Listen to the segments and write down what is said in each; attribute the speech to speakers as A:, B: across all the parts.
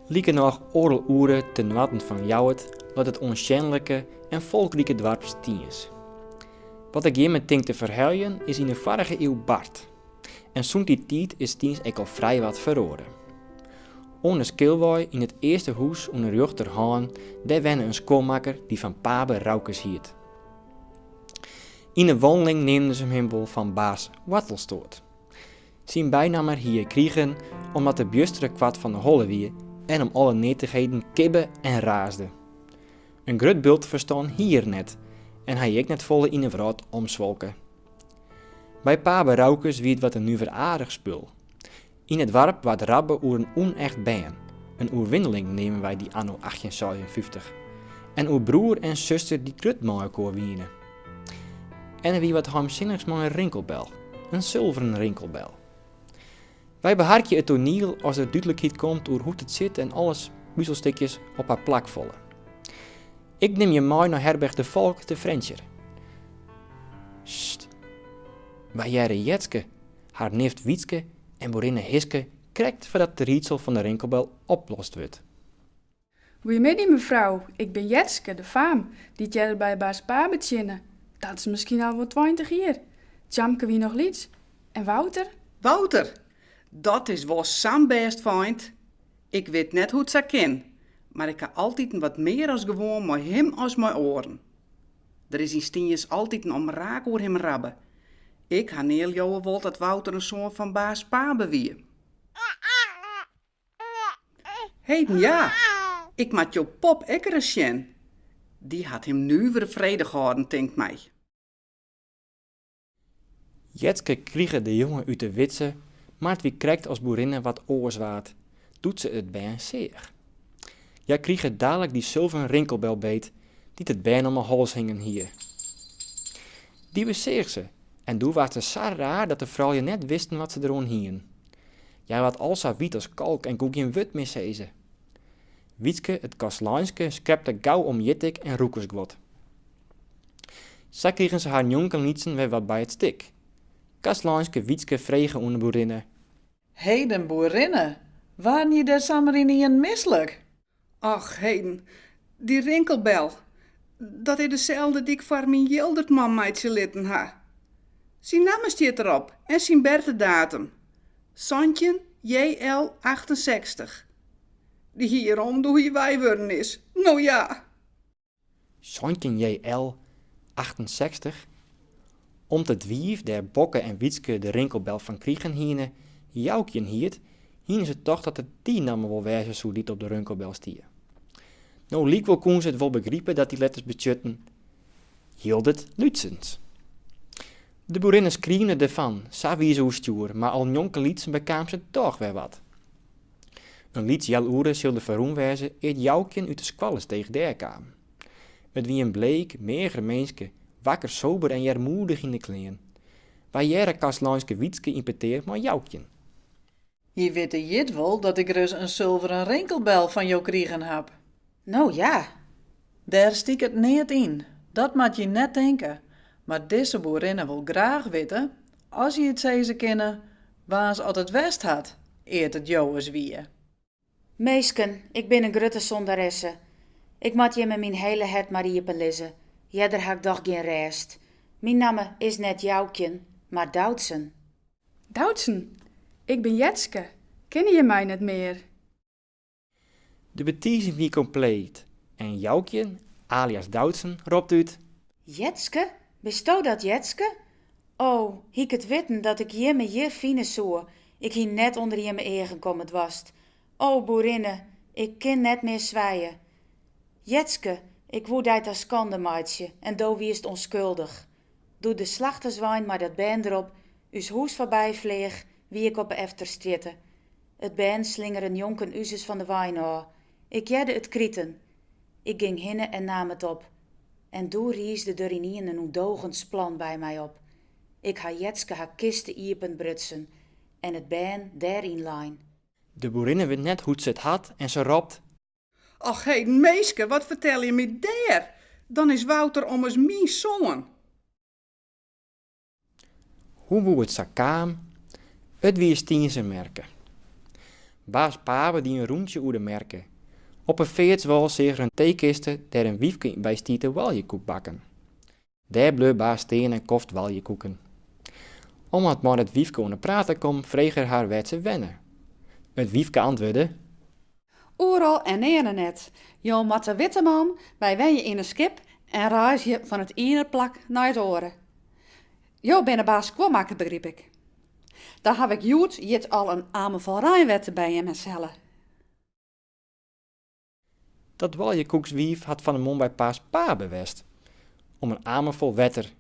A: Likernôch oardel oere te noarden fan Ljouwert leit it oansjenlike en folkrike doarp Stiens. Wat ik jimme tink te ferheljen is yn de foarige iuw bard, En sûnt dy tiid is Stiens ek al frijwat feroare. Oan 'e Skilwei, yn it earste hûs oan 'e rjochter hân, dêr wenne in skuonmakker dy't fan Pabe Roukes hiet. Yn 'e wanneling neamden se him wol fan baas Wartelstoat. Syn bynamme hie er krigen omdat er bjustere koart fan 'e holle wie en om alle neatichheden kibbe en raasde. In grut bult ferstân hie er net en hy hie ek net folle yn 'e wrâld omswolke. By Pabe Roukes wie it wat in nuveraardich spul. Yn it doarp waard rabbe oer in ûnecht bern, in oerwinneling neame wy dy anno achttjinseisenfyftich, en oer broer en suster dy't grut mei elkoar wiene. En der wie wat heimsinnichs mei in rinkelbel, in sulveren rinkelbel. Wy beharkje it toaniel as der dúdlikheid komt oer hoe't it sit en alle puzelstikjes op har plak falle. Ik nim je mei nei herberch De Valk te Frjentsjer. Sst, wy hearre Jetske, har nift Wytske en boerinne Hiske krekt foardat it riedsel fan de rinkelbel oplost wurdt.
B: Goeiemiddei mefrou, ik bin Jetske, de faam, dy't earder by baas Pabe tsjinne, dat is miskien al wol tweintich jier. Tjamke wie noch lyts. En Wouter? Wouter,
C: dat is wol sa'n bêst feint. Ik wit net hoe't sa kin, mar ik ha altiten wat mear as gewoan mei him as mei oaren. Der is yn Stiens altiten omraak oer him rabbe. Ik ha nea leauwe wold dat Wouter in soan fan baas Pabe wie. Heden ja, ik moat jo pop ek ris sjen. Dy hat him nuvere fredich hâlden, tinkt my.
A: Jetske krige de jonge út de widze, mar it wie krekt as boerinne wat oars waard, doe't se it bern seach. Hja krige dalik dy sulveren rinkelbel beet, dy't it bern om 'e hals hingen hie. Dy beseach se, en doe waard se sa raar dat de froulju net wisten wat se deroan hienen. Hja waard al sa wyt as kalk en koe gjin wurd mear sizze. Wytske it kastleinske skrepte gau om jittik en rûkersguod. Sa krigen se har njonkenlytsen wer wat by it stik. Kastleinske Wytske frege oan de boerinne. Heden
D: boerinne, waarden je dêr samar ynienen mislik? Och,
C: heden, dy rinkelbel, dat is deselde dy'k foar myn Jildertman meitsje litten ha. Syn namme stiet derop en syn bertedatum, santjin JL achtensechstich. Dy hie er om doe hy wei wurden is. No ja!
A: Santjin JL. achtensechstich, Om't it wiif dêr Bokke en Wytske de rinkelbel fan krigen hiene, Joukjen hiet, hiene se tocht dat it dy namme wol wêze soe dy't op de rinkelbel stie. No lykwol koene se it wol begripe dat dy letters betsjutten Jildert Lútsens. De boerinne skriemde derfan sa wie se oerstjoer, mar al njonkenlytsen bekaam se dochs wer wat. In lyts healoere sil der ferrûn wêze ear't Joukjen út de Skoallestege dêr kaam. It wie in bleek, meager minske, wakker sober en earmoedich yn de klean. Wy hearre kastleinske Wytske yn petear mei Joukjen.
D: Je witte jit wol dat ik ris in sulveren rinkelbel fan jo krigen haw. No
E: ja!
D: Dêr stiket neat yn, dat moat je net tinke, mar dizze boerinne wol graach witte, as je it sizze kinne, waans at it west hat ear't it jowes wie. Minsken,
E: ik bin in grutte sondaresse. Ik moat jimme myn hiele hert mar iepen lizze, earder ha ik dochs gjin rêst. Myn namme is net Joukjen, mar Doutsen. Doutsen,
B: ik bin Jetske, kinne je my net mear?
A: De betizing wie kompleet en Joukjen, alias Doutsen, ropt út.
E: Jetske, bisto dat Jetske? O, hie ik it witten dat ik jimme hjir fine soe, ik hie net ûnder jimme eagen komme doarst. O, boerinne, ik kin net mear swije. Jetske, ik woe dy ta skande meitsje en do wiest ûnskuldich. Doe't de slachterswein mei dat bern derop ús hûs foarby fleach, wie ik op 'e efterstrjitte. It bern slingere njonken uzes fan de wein ôf. Ik hearde it kriten. Ik ging hinne en naam it op. En doe riisde der ynien in ûndogens plan by my op. Ik ha Jetske har kiste iepen brutsen en it bern dêr yn lein. De
A: boerinne wit net hoe't se it hat en se ropt. Och
C: heden minske, wat fertel je my dêr? Dan is Wouter ommers myn soan.
A: Hoe woe it sa kaam? It wie Stienzer merke. Baas Pabe die in rûntsje oer de merke. Op 'e feartswâl seach er in teekiste dêr't in wyfke by stie te oaljekoek bakken. Dêr bleau baas stean en koft oaljekoeken. Om wat mei it wyfke oan 'e praat te kommen, frege er har wêr't se wenne. It wyfke antwurde.
F: Oeral en nearne net. Jo moatte witte man, wy wenje yn in skip en reizgje fan it iene plak nei it oare. Jo binne baas skuonmakker, begryp ik. Dan haw ik hjoed jit al in amer fol reinwetter by jimme
A: helle. Dat oaljekoekswiif hat fan 'e moarn by baas Pabe west. om in amer fol wetter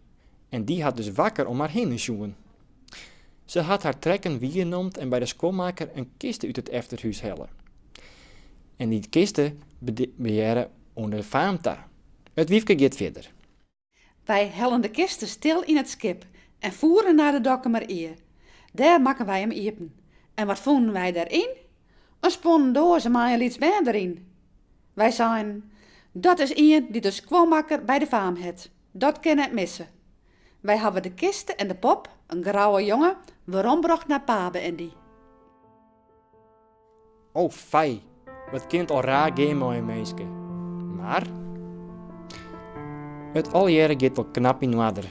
A: en dy hat dus wakker om har hinne sjoen. Se hat har trekken waarnomd en by de skuonmakker in kiste út it efterhûs helle. En dy kiste hearde oan de faam ta. It wyfke giet fierder.
F: Wy hellen de kiste stil yn it skip en foere nei de Dokkumer Ie. Dêr makken wy him iepen. En wat fûnen wy dêr yn? In sponnen doaze mei in lyts bern deryn. Wy seinen, Dat is ien dy't in skuonmakker by de faam hat. Dat kin net misse. Wy hawwe de kiste en de pop, in grouwe jonge, werombrocht nei Pabe en
A: dy. O fij, wat kin it al raar gean mei in minske. Mar it allegearre giet wol knap yn oarder.